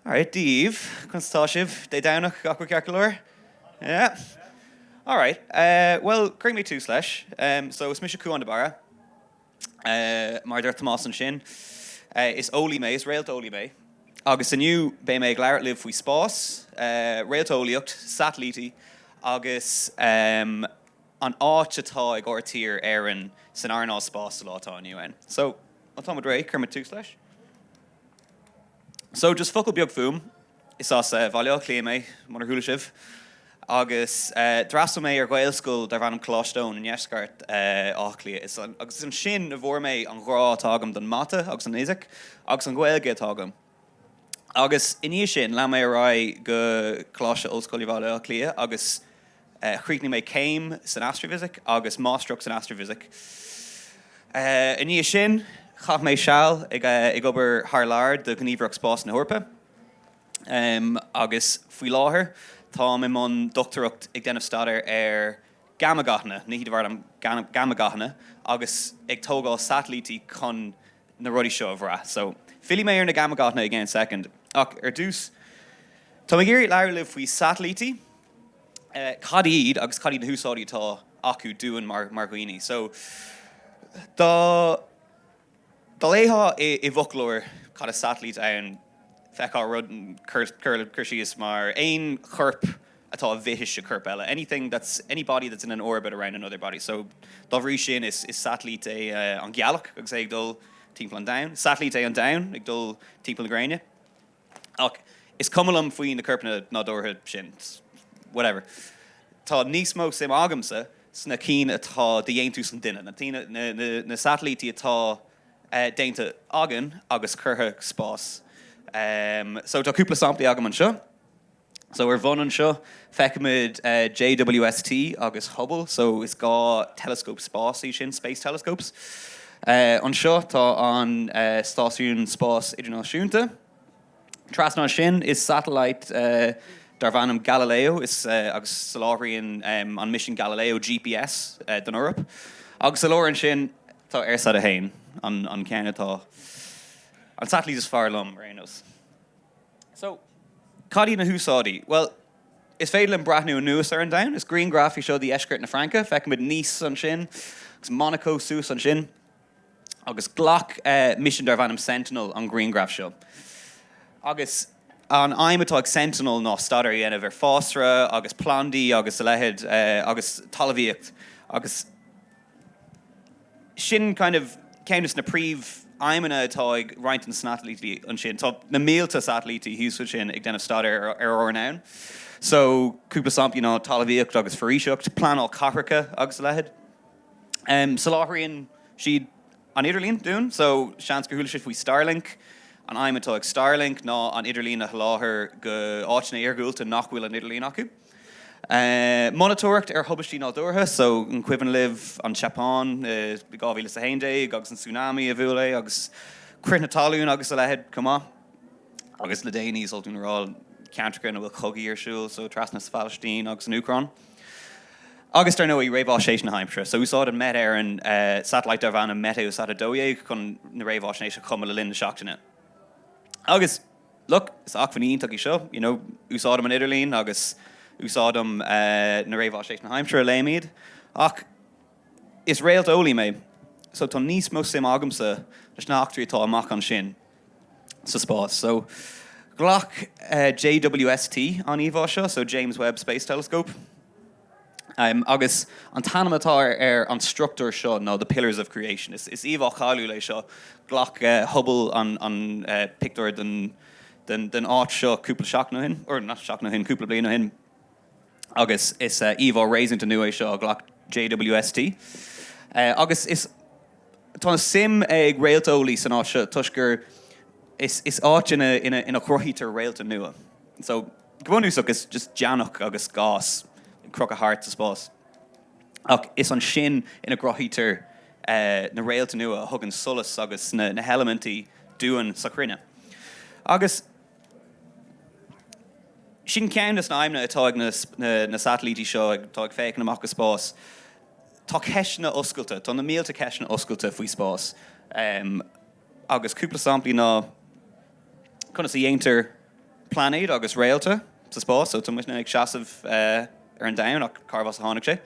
Alright, Dia daoibh, conas atá sibh? Dé Domhnach, gach rud ceart go leor? Yeah? Alright, bhuel, cuirfidh mé tús leis. So, is mise Cúán de Barra. Mar a deir Tomás ansin, is eolaí mé, is réalteolaí mé. Agus inniu, beidh mé ag labhairt libh faoi spás, réalteolaíocht, satailítí agus. an áit atá ag ár dtír, Éireann, san earnáil spáis sa lá atá inniu ann. So, má táimid réidh, cuirfimid tús leis. So, just focal beag fúm, is as Bhaile Átha Cliath mé, murar chuala sibh, agus d'fhreastail mé ar Ghaelscoil darb ainm Coláiste Eoin i ndeisceart Átha Cliath, agus is ansin a bhfuair mé an ghrá atá agam don Mata agus don Fhisic, agus an Ghaeilge atá agam. Agus i ndiaidh sin, lean mé ar aghaidh go Coláiste Ollscoile Bhaile Átha Cliath agus chríochnaigh mé céim san Astrafhisic agus Máistreacht san Astrafhisic. I ndiaidh sin, chaith mé seal ag obair thar lear do Ghníomhaireacht Spáis na hEorpa agus faoi láthair, táim i mbun dochtúireacht ag déanamh staidéir ar gáma-ghathanna, nithe de bharr gáma-ghathanna agus ag tógáil satailítí chun na rudaí seo a bhrath. So, fillfidh mé ar na gáma-ghathanna i gcéann soicind, ach ar dtús, tá mé ag iarraidh labhairt libh faoi satailítí, cad iad agus cad iad na húsáidí atá acu dúinn mar dhaoine. So, dá léifeá i bhfoclóir cad is satailít ann, d'fheicfeá rud, cur síos mar, aon chorp, atá i bhfithis ar chorp eile, anything that's, any body that's in an orbit around another body. So dá bhrí sin, is satailít é an Gealach agus é ag dul timpeall an Domhain. Satailít é an Domhan ag dul timpeall na Gréine. Ach is cuma liom faoi na coirpeanna nádúrtha sin, whatever. Tá níos mó suim agamsa sna cinn atá de dhéantús an duine, na satailítí atá déanta againn agus curtha go spás. So tá cúpla samplaí agam anseo. So ar bhun anseo, feicimid JWST agus Hubble, so is dhá teileascóp spáis iad sin, space telescopes. Anseo tá an Stáisiún Spáis Idirnáisiúnta. Trasna as sin is satailít é darb ainm Galileo agus soláthraíonn an misean Galileo GPS don Eoraip. Agus sa lár ansin tá EIRSAT 1, an ceann atá, an satailít is fearr liom ar aon nós. So, cad iad na húsáidí? Bhuel, is féidir linn breathnú anuas ar an domhan. Is grianghraf í seo de dheisceart na Fraince. Feicimid Nice ansin agus Monaco suas ansin. Agus ghlac misean darb ainm Sentinel an grianghraf seo. Agus an aidhm atá ag Sentinel ná staidéar a dhéanamh ar fásra agus plandaí agus a leithéid agus talmhaíocht. Agus. Sin kind of ceann de na príomh aidhmeanna atá ag roinnt den satailítí ansin. Tá na mílte satailítí thuas ansin ag déanamh staidéir ar ár ndomhan. So, cúpla samplaí ná talamhaíocht agus foraoiseacht, pleanáil cathracha agus a leithéid. Em, soláthraíonn siad an idirlíon dúinn, so seans go chuala sibh faoi Starlink. An aidhm atá ag Starlink ná an idirlíon a sholáthar go áiteanna iargúlta nach bhfuil an idirlíon acu. Monatóireacht ar thubaistí nádúrtha so an cuimhin libh an tSeapáin i 2011 agus an tsunami a bhuail é agus crith na talún agus a leithéid chomh maith. Agus le déanaí, is oth dúinn a rá, ceantair ina bhfuil cogaí ar siúl so trasna sa Phalaistín agus san Úcráin. Agus dar ndóigh, réamhaisnéis na haimsire so úsáideann Met Éireann satailít darb ainm Meteosat 12 chun na réamhaisnéis a chumadh le linn na seachtaine. Agus. look, is acmhainn iontach í seo, you know, úsáidim an idirlíon agus úsáidim na réamhaisnéis na haimsire a léim iad ach is réalteolaí mé so tá níos mó suim agamsa leis na hachtraí atá amach ansin sa spás so ghlac JWST an íomhá seo so James Webb Space Telescope. agus an t-ainm atá ar an struchtúr seo ná The Pillars of Creation. Is íomhá cáiliúil é seo, ghlac Hubble an pictiúr den áit seo cúpla seachtain ó shin, or not seachtain ó shin, cúpla bliain ó shin, agus is íomhá réasúnta nua é seo a ghlac JWST. Agus is. tá suim ag réalteolaí san áit seo toisc gur. is áit ina chruthaítear réalta nua. So. Go bunúsach, is just deannach agus gás ag crochadh thart sa spás. Ach is ansin ina gcruthaítear na réalta nua a thugann solas agus na heilimintí dúinn sa chruinne. Agus sin ceann de na aidhmeanna atá ag na satailítí seo atá ag féachaint amach go spás. Tá ceisteanna oscailte, tá na mílte ceisteanna oscailte faoi spás. agus cúpla samplaí ná, conas a dhéantar pláinéid agus réalta sa spás, so tá muidne ag seasamh ar an domhan ach cárbh as a tháinig sé?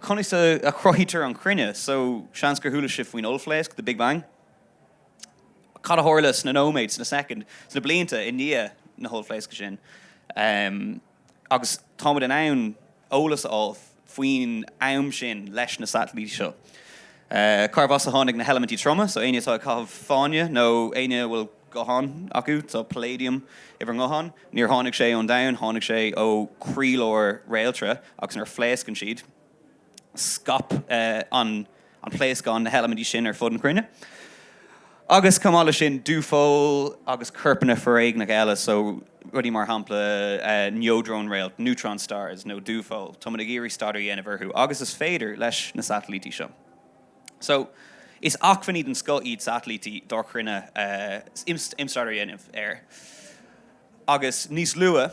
conas a chruthaítear an chruinne, so seans gur chuala sibh faoin Ollphléasc, the Big Bang? cad a tharla sna nóiméid, sna soicind, sna blianta i ndiaidh na hOllphléasc sin? agus tá muid in ann eolas a fháil faoin am sin leis na satailítí seo, cárbh as a tháinig na heilimintí troma, so éinne atá ag caitheamh fáinne nó éinne a bhfuil guthán acu, tá palladium i bhur nguthán, níor tháinig sé ón domhan, tháinig sé ó chroílár réaltra agus nuair a phléascann siad. scaip an pléascán na heilimintí sin ar fud na cruinne. Agus chomh maith leis sin, dúphoill agus corpanna foréigneacha eile, so rudaí mar shampla neodrónréalt, neutron stars, nó dúphoill, táimid ag iarraidh staidéar a dhéanamh orthu, agus is féidir, leis na satailítí seo. So, is acmhainní den scoth iad satailítí dár chruinne chun staidéar a dhéanamh air. Agus níos luaithe.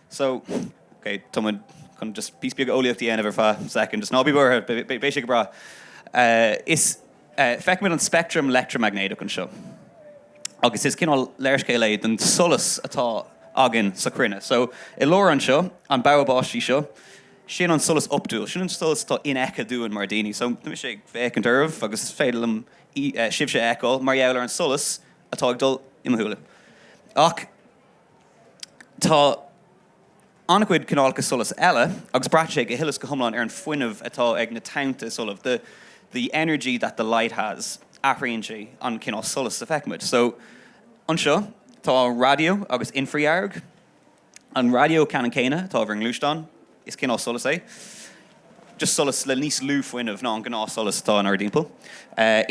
So, ok, tá muid chun just píosa beag eolaíocht a dhéanamh ar feadh soicind, just ná bí buartha, beidh sé go breá. Is, feicimid an speictream leictreamaignéadach anseo agus is cineál léarscáil é den solas atá againn sa chruinne. So, i lár anseo, an bogha báistí seo, sin an solas optúil, sin an solas atá infheicthe dúinn mar dhaoine. So, tá mise ag féachaint oraibh agus is féidir liom sibhse a fheiceáil mar gheall ar an solas atá ag dul i mo shúile. Ach. Tá an-chuid cineálacha solais eile, agus braitheann sé go huile is go hiomlán ar an fuinneamh atá ag na tonnta solais, 'the, the energy that the light has', athraíonn sé an cineál solais a fheicimid. So, anseo, tá raidió agus infridhearg, an raidió ceannann céanna atá ar bhur ngluaisteáin, Is cineál solais é. Just solas le níos lú fuinnimh ná an gnáthsholas atá inár dtimpeall.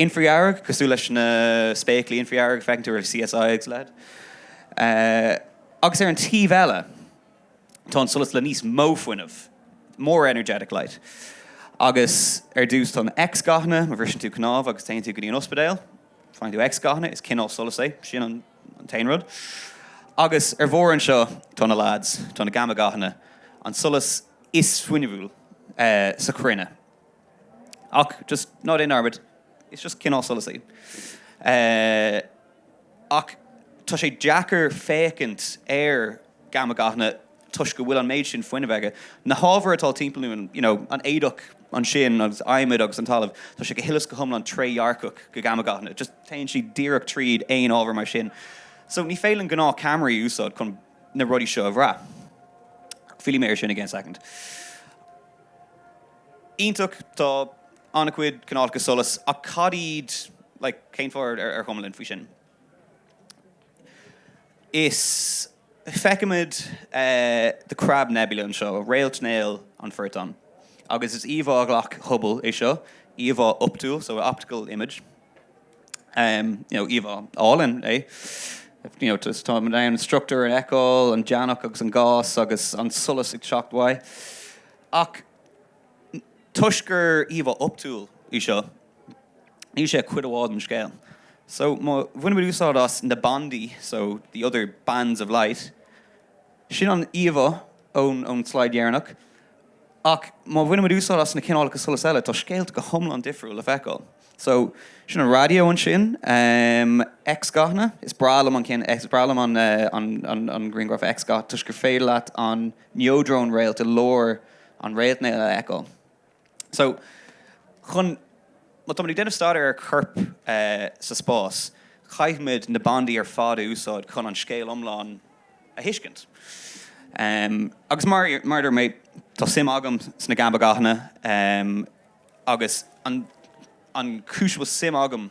Infridhearg, cosúil leis na spéaclaí infridhearg a feiceann tú ar CSI agus a leithéid. Agus ar an taobh eile tá an solas le níos mó fuinnimh, more energetic light. Agus ar dtús tá na X-ghathanna, má bhriseann tú cnámh agus téann tú go dtí an ospidéal, faigheann tú X-ghathanna, is cineál solais é. Sin an. an t-aon rud. Agus ar bharr anseo, tá na leaids, tá na gamma gathanna, an solas is fuinniúil sa chruinne. Ach just ná déan dearmad, is just cineál solais iad. Ach tá sé deacair féachaint ar gamma gathanna toisc go bhfuil an méid sin fuinnimh aige. Na hábhair atá timpeall orainn, you know, an éadach ansin agus adhmad agus an talamh, tá sé go huile is go hiomlán trédhearcach do gamma gathanna, just téann siad díreach tríd aon ábhar mar sin. So ní féidir linn gnáth ceamaraí a úsáid chun na rudaí seo a bhrath. Fillfidh mé ar sin i gceann soicind. Iontach, tá an-chuid cineálacha solas ach cad iad, like, cén fáth ar chuma linn faoi sin? Is feicimid The Crab Nebula anseo, Réaltnéal an Phortáin, agus is íomhá a ghlac Hubble é seo, íomhá optúil, so optical image, you know íomhá álainn é, you know just táimid in ann an struchtúr a fheiceáil, an deannach agus an gás agus an solas ag teacht uaidh. Ach toisc gur íomhá optúil é seo, Níl sé ach cuid amháin den scéal. So, má bhainimid úsáid as na bandaí, so, the other bands of light, sin an íomhá ón slide dheireanach, ach má bhainimid úsáid as na cineálacha solais eile, tá scéalta go hiomlán difriúil le feiceáil. So, sin an raidió ansin, x-ghathanna, is breá liom an ceann x, is breá liom an grianghraf x-ghath toisc gur féidir leat an neodrónréalt i lár an réaltnéil a fheiceáil. So, chun, má táimid ag déanamh staidéar ar chorp sa spás, caithfimid na bandaí ar fad a úsáid chun an scéal iomlán a thuiscint. Agus mar a dúirt mé, tá suim agam sna gáma-ghathanna agus an chúis a bhfuil suim agam,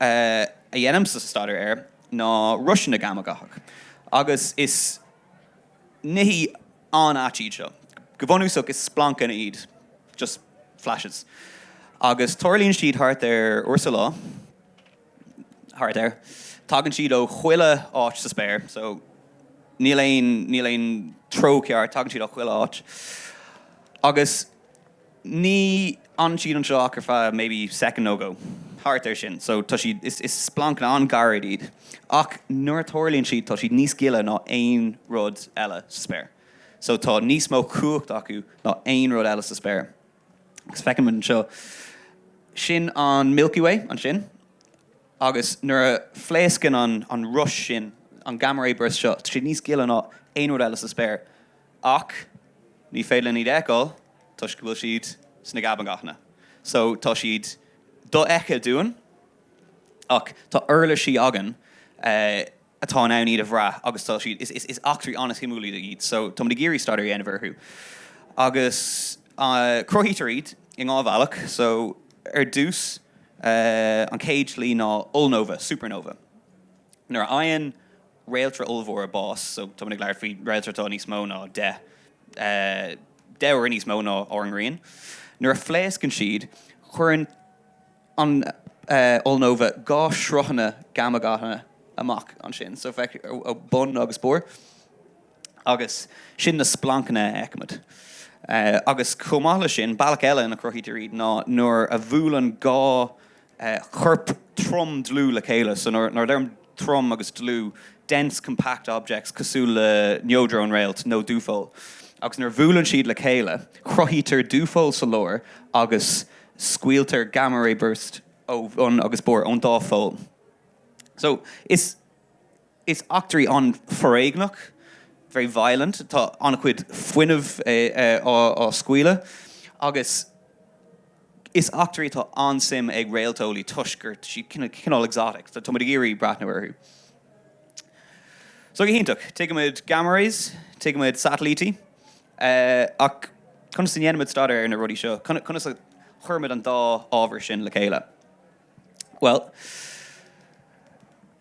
a dhéanaimse staidéar air ná rois gháma-ghathacha, agus is nithe an-ait iad seo. Go bunúsach, is splancanna iad, just flashes, agus tarlaíonn siad thart ar uair sa lá, thart air. Tagann siad ó chuile áit sa spéir, so níl aon, níl aon treo áirithe, tagann siad ó chuile áit, agus. Ní fhanann siad anseo ach ar feadh maybe second nó dhó, thart ar sin, so tá siad, is splancanna an-ghairid iad ach nuair a tarlaíonn siad tá siad níos gile ná aon rud eile sa spéir, so tá níos mó cumhacht acu ná aon rud eile sa spéir agus feicimid anseo, sin an Milky Way ansin agus nuair a phléascann an rois sin, an gamma ray burst seo, tá siad níos gile ná aon rud eile sa spéir. Ach ní féidir linn iad a fheiceáil toisc go bhfuil siad sna gáma-ghathanna so tá siad dofheicthe dúinn ach tá uirlisí againn atá in ann iad a bhrath agus tá siad, is eachtraí an-suimiúla iad so táimid ag iarraidh staidéar a dhéanamh orthu. Agus cruthaítear iad i ndhá bhealach so ar dtús an chéad slí ná ollnóva, supernova. Nuair a fhaigheann. réalta ollmhór bás. So tá muid ag labhairt faoi réalta atá níos mó ná deich, deich uaire níos mó ná ár nGrian. Nuair a phléascann siad, cuireann an ollnóva dhá shruthanna gáma-ghathanna amach ansin. So feictear ó bun agus barr agus sin na splancanna a fheicimid. Agus chomh maith leis sin, bealach eile ina gcruthaítear iad ná nuair a bhuaileann dhá chorp trom dlúth le chéile. So nuair a deirim trom agus dlúth, dense, compact objects, cosúil le neodrónréalt nó dúpholl. Agus nuair a bhuaileann siad le chéile, cruthaítear dúpholl sa lár agus scaoiltear gamma-ray burst ó bhun agus barr ón dúpholl. So is. Is eachtraí an-foréigneach, very violent, tá an-chuid fuinnimh á scaoileadh agus is eachtraí atá an-suim ag réalteolaí toisc gur siad cineál exotic, tá muid ag iarraidh breathnú orthu. So go hiontach, tuigimid gamma rays, tuigimid satailítí ach conas a ndéanaimid staidéar ar na rudaí seo, conas a chuirimid an dá ábhar sin le chéile? Bhuel.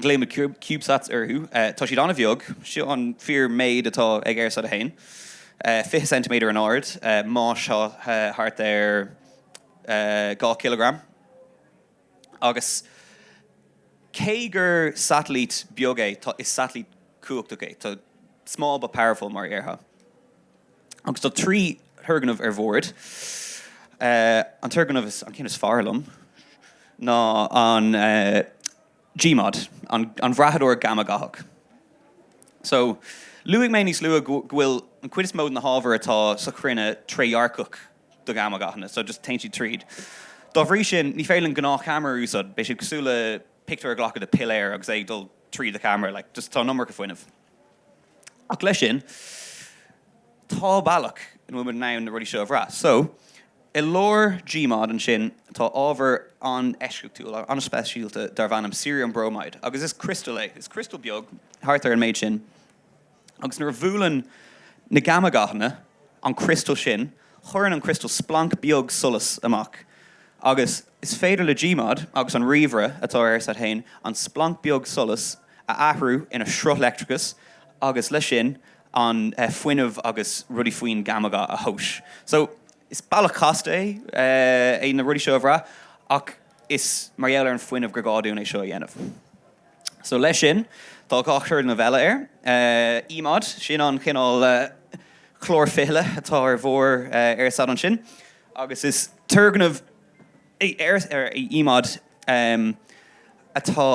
Glaoim CubeSats orthu. Tá siad an-bheag. Seo an fíor méid atá ag EIRSAT 1, 20 ceintiméadar in ard, mais thart ar 2 cileagram. Agus cé gur satailít beag é, is satailít cumhachtach é. Tá small but powerful mar a dhéarfá. agus tá trí thurgnamh ar bhord. An turgnamh, an ceann is fearr liom, ná an GMOD, an bhrathadóir gáma-ghathach. So, luaigh mé níos luaithe go bhfuil an chuid is mó de na hábhair atá sa chruinne trédhearcach do gháma-ghathanna, so just téann siad tríd. Dá bhrí sin, ní féidir linn gnáthcheamara a úsáid, beidh sé cosúil le pictiúr a ghlacadh de piléar agus é ag dul tríd do cheamara, like just tá an iomarca fuinnimh. Ach leis sin, tá bealach ina bhfuil muid in ann na rudaí seo a bhrath. So, i lár GMOD ansin, tá ábhar an-eisceachtúil, an-speisialta darb ainm Cerium bromide, agus is criostal é. Is criostal beag, thart ar an méid sin, agus nuair a bhuaileann na gáma-ghathanna an criostal sin, cuireann an criostal splanc beag solais amach, agus is féidir le GMOD, agus an ríomhaire atá ar EIRSAT féin, an splanc beag solais a. a athrú ina sruth leictreachais agus leis sin an fuinneamh agus rudaí faoin gáma-gha a thomhas. So, is bealach casta é na rudaí seo a bhrath ach is mar gheall ar an fuinneamh gur gá dúinn é seo a dhéanamh. So, leis sin, tá dhá thurgnamh eile air. EMOD, sin an cineál clár fichille atá ar bharr EIRSAT ansin agus is turgnamh. Ar EMOD atá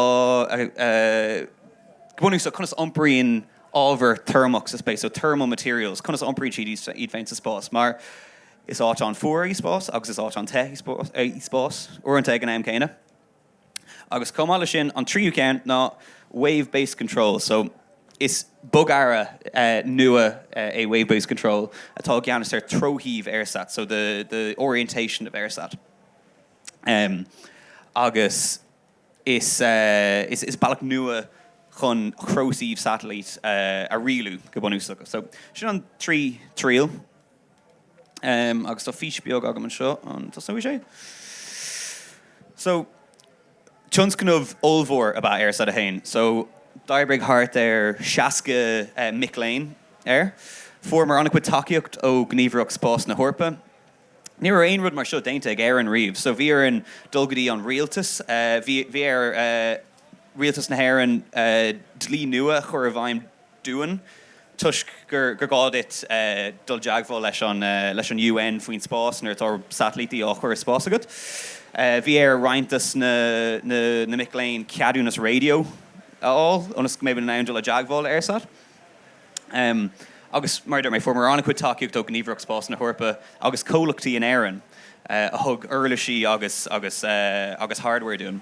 go bunúsach, conas a iompraíonn ábhar teirmeach sa space, so thermal materials, conas a iompraíonn siad iad féin sa spás, mar is áit an-fhuar í spás agus is áit an-te í spás uaireanta ag an am céanna. Agus chomh maith leis sin, an tríú ceann ná wave based control, so is bogearra nua é wave based control atá i gceannas ar treoshuíomh EIRSAT, so the the orientation of EIRSAT. Agus is is is bealach nua chun treoshuíomh satailíte a rialú go bunúsach. So sin an trí triail. Em agus tá fís beag agam anseo an dtosnóidh sé? So tionscnamh ollmhór ab ea é EIRSAT a haon so d'oibrigh thart ar seasca eh mic léinn air. Fuaireamar an-chuid tacaíocht ó Ghníomhaireacht Spáis na hEorpa. Ní raibh aon rud mar seo déanta ag Éirinn riamh so bhí orainn dul go dtí an rialtas eh bhí bhí ar eh rialtas na hÉireann eh dlí nua a chur i bhfeidhm dúinn. Toisc gur gá duit dul i dteagmháil leis an UN faoin spás nuair atá satailítí á chur i spás agat, bhí ar roinnt de na mic léinn ceadúnas raidió a fháil ionas go mbeidh muid in ann dul i dteagmháil le EIRSAT. Agus, mar a dúirt mé, fuaireamar an-chuid tacaíochta ó Ghníomhaireacht Spáis na hEorpa agus comhlachtaí in Éirinn a thug uirlisí agus hardware dúinn.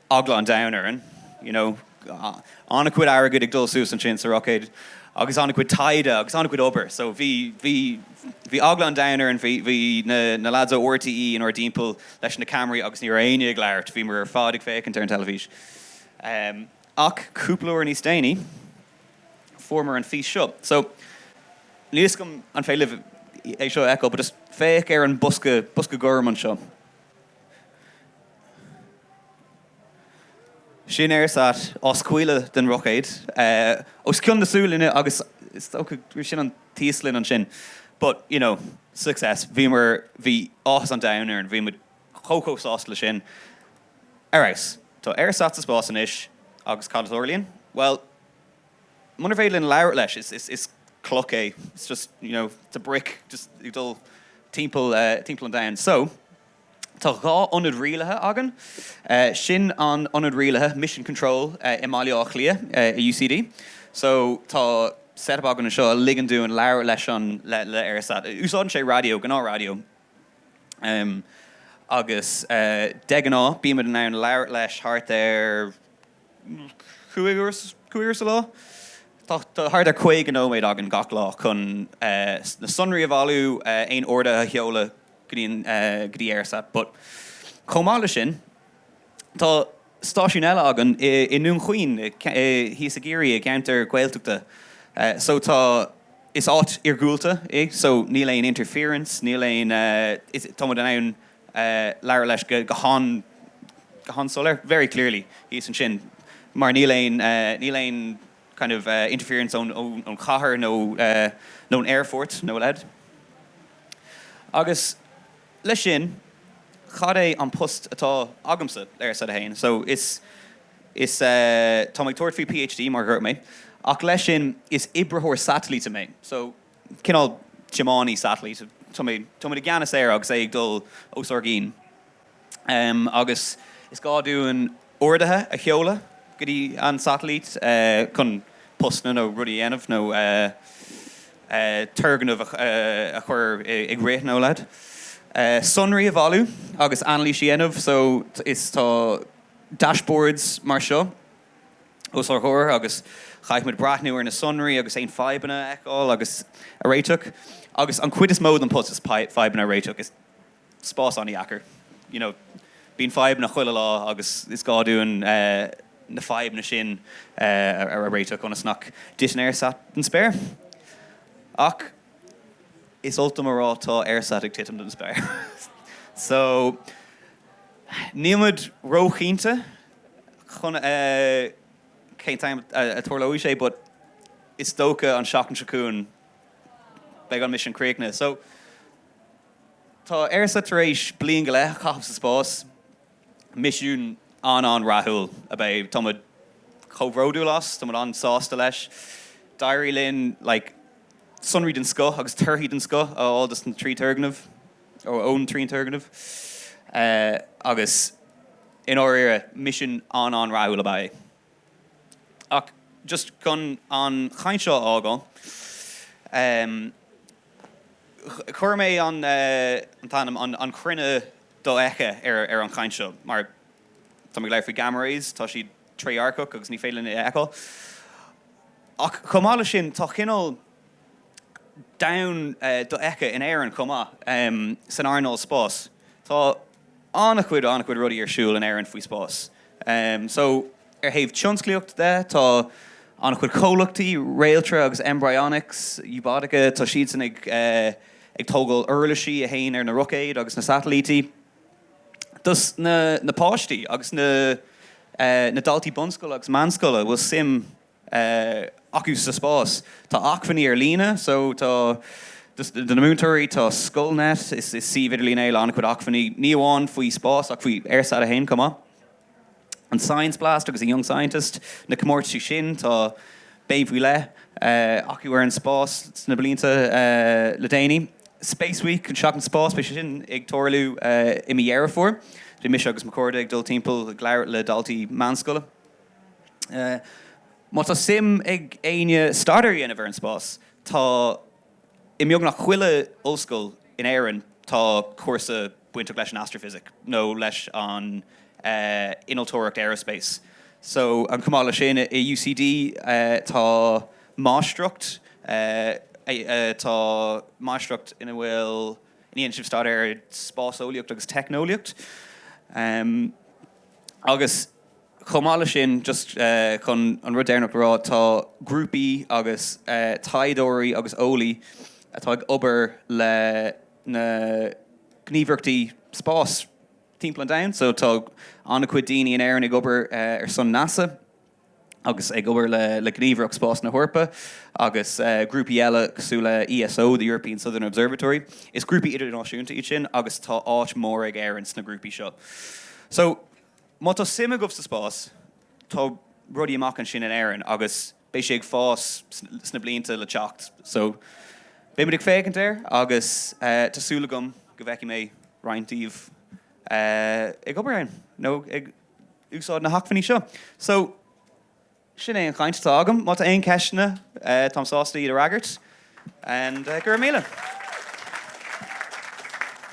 eagla an domhain orainn, you know, an-chuid airgid ag dul suas ansin sa roicéad agus an-chuid taighde agus an-chuid obair. So bhí, bhí, bhí eagla an domhain orainn, bhí, bhí na, na lads ó RTÉ inár dtimpeall leis na ceamaraí agus ní raibh éinne ag labhairt, bhíomar ar fad ag féachaint ar an teilifís. Em, ach cúpla uair níos déanaí, fuaireamar an fís seo. So, níl 'fhios agam an féidir libh é seo a fheiceáil but just féach ar an mbosca, bosca gorm anseo. Sin EIRSAT á scaoileadh den roicéad os cionn na Sualainne agus is dócha gurb shin an tÍoslainn ansin. But, you know, success. Bhíomar, bhí áthas an domhain orainn, bhí muid chomh chomh sásta leis sin. Ar fheabhas. Tá EIRSAT sa spás anois agus cad a tharlaíonn? Bhuel, munar féidir linn labhairt leis, is, is, is cloch é, it's just, you know, it's a brick, just ag dul timpeall, timpeall an domhain. So. Tá dhá ionad rialaithe againn, sin an t-ionad rialaithe, mission control, i mBaile Átha Cliath i UCD so tá set-up againn anseo a ligeann dúinn labhairt leis an, le EIRSAT. Úsáideann sé raidió, gnáth raidió, agus de ghnáth bímid in ann labhairt leis thart ar, cúig uair sa lá. Tá thart ar 50 nóiméad againn gach lá chun na sonraí a bhailiú, aon orduithe a sheoladh go dtí go dtí EIRSAT. But chomh maith leis sin, tá stáisiún eile againn i nDún Chaoin, thíos i gCiarraí, i gceantar Gaeltachta. So tá, is áit iargúlta é, so níl aon interference, níl aon, tá muid in ann labhair leis go han soiléir, very clearly, thíos ansin mar níl aon, níl aon kind of interference ón chathair nó ón aerfort nó a leithéid. Agus leis sin, cad é an post atá agamsa le EIRSAT-1? So is, is táim ag tabhairt faoi PhD mar dhúirt mé ach leis sin is oibritheoir satailíte mé. So. cineál tiománaí satailíte. Tá muid i gceannas air agus é ag dul os ár gcionn. Agus is gá dúinn orduithe a sheoladh go dtí an tsatailít chun postanna nó rudaí a dhéanamh nó turgnaimh a chur i gcrích nó a leithéid. Sonraí a bhailiú agus anailís a dhéanamh. So tá dashboards mar seo. os ár gcomhair agus caithfidh muid breathnú ar na sonraí agus aon fadhbanna a fheiceáil agus a réiteach. Agus an chuid is mó den phost is fadhbanna a réiteach is spás an-deacair. You know, bíonn fadhbanna chuile lá agus is gá dúinn na fadhbanna sin a réiteach ionas nach dtiteann EIRSAT den spéir. Ach is oth liom a rá tá EIRSAT ag titim den spéir. So, níl muid ró-chinnte chun cén t-am a dtarlóidh sé but is dócha an tseachtain seo chugainn beidh an misiún críochnaithe so tá EIRSAT tar éis bliain go leith a chaitheamh sa spás. Misiún an-an-rathúil ab ea é. Tá muid chomh bródúil as, tá muid an-sásta leis. D'éirigh linn like sonraí den scoth agus torthaí den scoth a fháil dos na trí turgnamh. ón trí turgnamh agus i ndáiríre misean an-an rathúil ab ea é. Ach just chun an chaint seo a fhágáil, chuir mé an t-ainm An Chruinne Dofheicthe ar an chaint seo mar tá mé ag labhairt faoi gamma rays, tá siad trédhearcach agus ní féidir linn a fheiceáil. Ach chomh maith leis sin tá cineál. domhan dofheicthe in Éirinn chomh maith, san earnáil spáis. Tá an-chuid, an-chuid rudaí ar siúl in Éirinn faoi spás. So, ar thaobh tionsclaíocht de, tá an-chuid comhlachtaí, Réaltra agus mBryonics, Ubotica, tá siadsan ag ag tógáil uirlisí a théann ar na roicéid agus na satailítí. Dos na na páistí agus na na daltaí bunscoile agus meánscoile a bhfuil suim acu sa spás. Tá acmhainní ar líne so tá, do na múinteoirí, tá Scoilnet, is suíomh idirlín é le an-chuid acmhainní, ní amháin faoi spás ach faoi EIRSAT 1 chomh maith. An Science Blast agus an Young Scientist, na comórtaisí sin, tá béim faoi leith acu ar an spás sna blianta le déanaí. Space Week, an Seachtain Spás, beidh sé sin ag tarlú i mí Dheireadh Fómhair. Beidh mise agus mo chairde ag dul timpeall ag labhairt le daltaí meánscoile. Má tá suim ag éinne staidéar a dhéanamh ar an spás, tá i mbeagnach chuile ollscoil in Éirinn tá cúrsa bainteach leis an astrafhisic nó leis an innealtóireacht aerospace. So chomh maith le sin i UCD tá máistreacht, tá máistreacht ina bhfuil, ina dhéanann sibh staidéar ar spáseolaíocht agus teicneolaíocht. Agus. Chomh maith leis sin, just chun an rud deireanach a rá, tá grúpaí agus taighdeoirí agus eolaí atá ag obair le na gníomhaireachtaí spáis timpeall an domhain. So tá an-chuid daoine in Éirinn ag obair ar son NASA agus ag obair le Gníomhaireacht Spáis na hEorpa agus grúpaí eile cosúil le ESO, The European Southern Observatory. Is grúpaí idirnáisiúnta iad sin agus tá áit mhór ag Éirinn sna grúpaí seo. So. Má tá suim agaibh sa spás, tá rudaí amach ansin in Éirinn agus beidh sé ag fás sna blianta le teacht. So, beidh muid ag féachaint air agus tá súil agam go bhfeicfidh mé roinnt díbh ag obair ann nó ag úsáid na hacmhainní seo. So, sin é an chaint atá agam. Má tá aon cheisteanna, táim sásta iad a fhreagairt. And, go raibh míle.